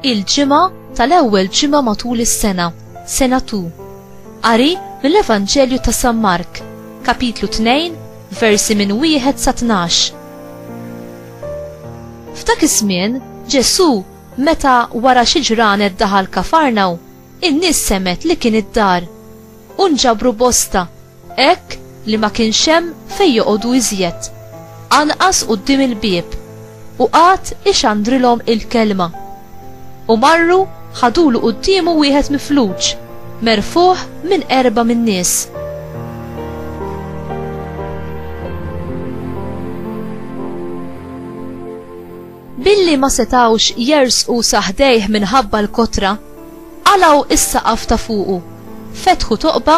il-ġimgħa tal-ewwel ġimgħa matul is-sena, sena tu. Qari mill-Evanġelju ta' San Mark, kapitlu 2, versi minn wieħed sa 12. F'dak iż-żmien, Ġesù meta wara xi ġranet daħal Kafarnaw, In-nies semgħet li kien id-dar, u nġabru bosta, hekk li ma kienx hemm fejn joqogħdu iżjed, anqas quddiem il-bieb, u qagħad ixandrilhom il-kelma. U marru ħadulu quddiemu wieħed mifluġ, merfugħ minn qerba min-nies. Billi ma setgħux jersqu sa ħdejh minħabba l-kotra, qalgħu s-saqaf ta' fuqu, fetħu toqba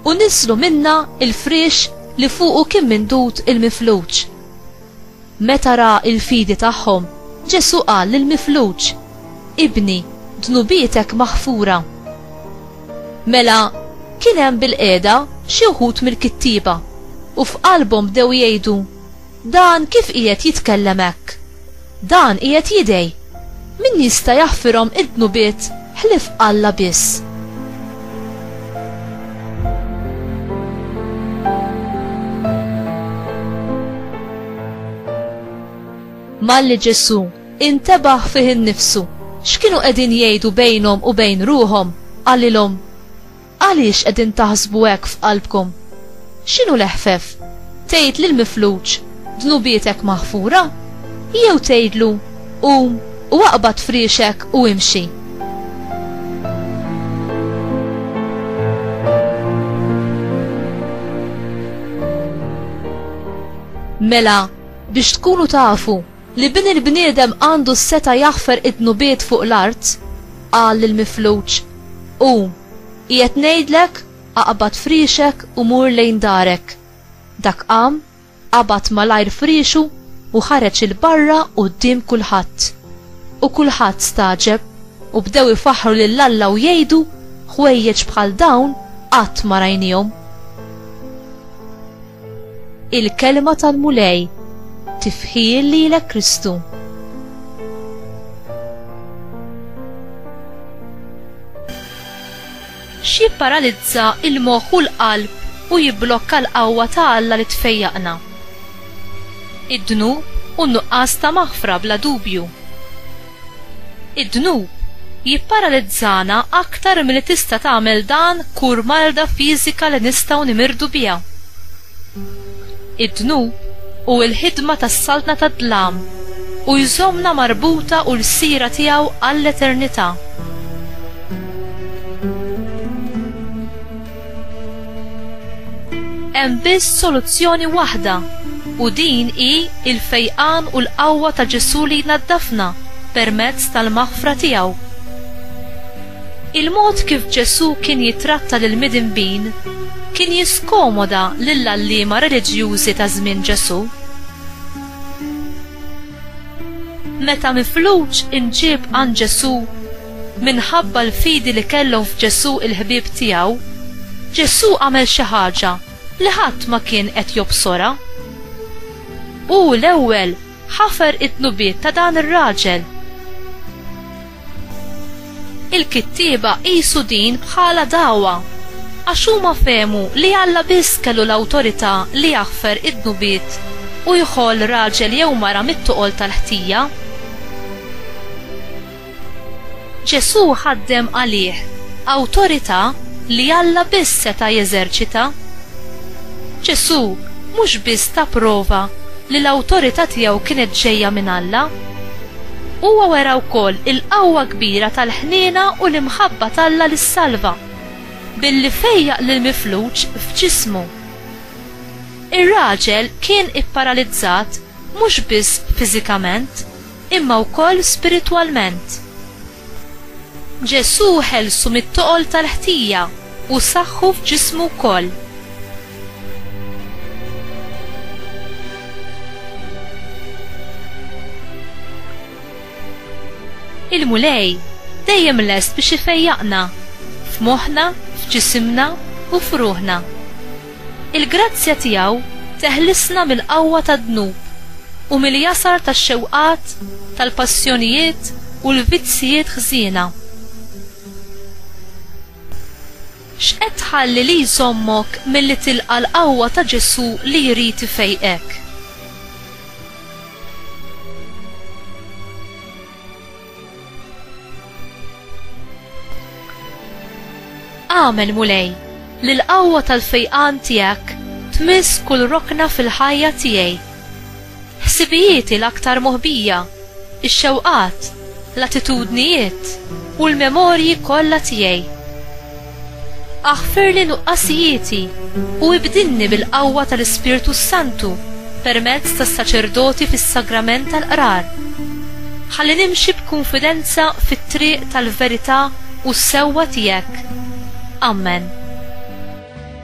u niżżlu minnha l-friex li fuqu kien mindud il-mifluġ. Meta ra l-fidi tagħhom, Ġesù qal lill-mifluġ, Ibni, dnubietek maħfura. Mela, kien hemm bilqiegħda xi wħud mill-kittieba, u f'qalbhom bdew jgħidu, Dan kif qiegħed jitkellem hekk? Dan qiegħed jidgħi, Min jista' jaħfirhom id-dnubiet ħlief Alla biss? Malli Ġesù intebaħ fih innifsu x'kienu qegħdin jgħidu bejnhom u bejn ruħhom, qalilhom, Għaliex qegħdin taħsbu hekk f'qalbkom? X'inhu l-eħfef, tgħid lill-mifluġ, 'Dnubietek maħfura'? Jew tgħidlu, 'Qum u aqbad friexek u imxi'? Mela, biex tkunu tafu, Li Bin il-bniedem għandu s-setgħa jaħfer id-dnubiet fuq l-art, qal lill-mifluġ, Qum, qiegħed ngħidlek, aqbad friexek u mur lejn darek. Dak qam, qabad malajr friexu u ħareġ 'il barra quddiem kulħadd. U kulħadd stagħġeb u bdew ifaħħru lil Alla u jgħidu, Ħwejjeġ bħal dawn qatt ma rajniehom. Il-kelma tal-Mulej tifħil lilek Kristu. Xi paralizza il-moħħ u l-qalb u jibblokka l-qawwa ta' Alla li tfejjaqna. Id-dnub u nuqqas ta' maħfra bla dubju. Id-dnub jipparalizzana aktar milli tista' tagħmel dan kur marda fiżika li nistgħu nimirdu biha. Id-dnub hu l-ħidma tas-saltna tad-dlam u jżommna marbuta u lsiera tiegħu għall-eternità. Hemm biss soluzzjoni waħda u din hi l-fejqan u l-qawwa ta' Ġesù li jnaddafna permezz tal-maħfra tiegħu. Il-mod kif Ġesù kien jittratta lill-midinbin kien jiskomoda lill-għalliema reliġjużi ta' żmien Ġesù. Meta mifluġ imġieb għand Ġesù, Minħabba l-fidi li kellhom f'Ġesù l-ħbieb tiegħu, Ġesù għamel xi ħaġa li ħadd ma kien qed jobsorha. Hu l-ewwel ħafer id-dnubiet ta' dan ir-raġel. Il-kittieba qisu din bħala dagħwa għax huma fehmu li Alla biss kellu l-awtorità li jaħfer id-dnubiet u jħoll raġel jew mara mit-toqol tal-ħtija. Ġesù ħaddem għalih awtorità li Alla biss seta' jeżerċita. Ġesù mhux biss ta prova li l-awtorità tiegħu kienet ġejja minn Alla, huwa wera wkoll il-qawwa kbira tal-ħniena u l-imħabba t'Alla li ssalva, billi fejjaq lill-mifluġ f'ġismu. Ir-raġel kien ipparalizzat mhux biss fiżikament, imma wkoll spiritwalment. Ġesù ħelsu mit-toqol tal-ħtija u saħħu f'ġismu wkoll. Il-Mulej dejjem lest biex ifejjaqna, f'moħħna, f'ġisimna, u f'ruħna. Il-grazzja tiegħu teħlisna mill-qawwa tad-dnub u mill-jasar tax-xewqat, tal-passjonijiet u l-vizzjijiet ħżiena. X'qed tħalli li jżommok milli tilqa' l-qawwa ta' Ġesù li jrid ifejqek? Amen Mulej, li l-qawwa tal-fejqan tiegħek tmiss kull rokna fil-ħajja tiegħi. Ħsibijieti l-aktar moħbija, ix-xewqat, l-attitudnijiet u l-memorji kollha tiegħi. Aħfirli nuqqasijieti u ibdilni bil-qawwa tal-Ispirtu s-Santu permezz tas-saċerdoti fis-sagrament tal-Qrar, ħalli nimxi b'kunfidenza fit-triq tal-verità u s-sewwa tiegħek. Ammen.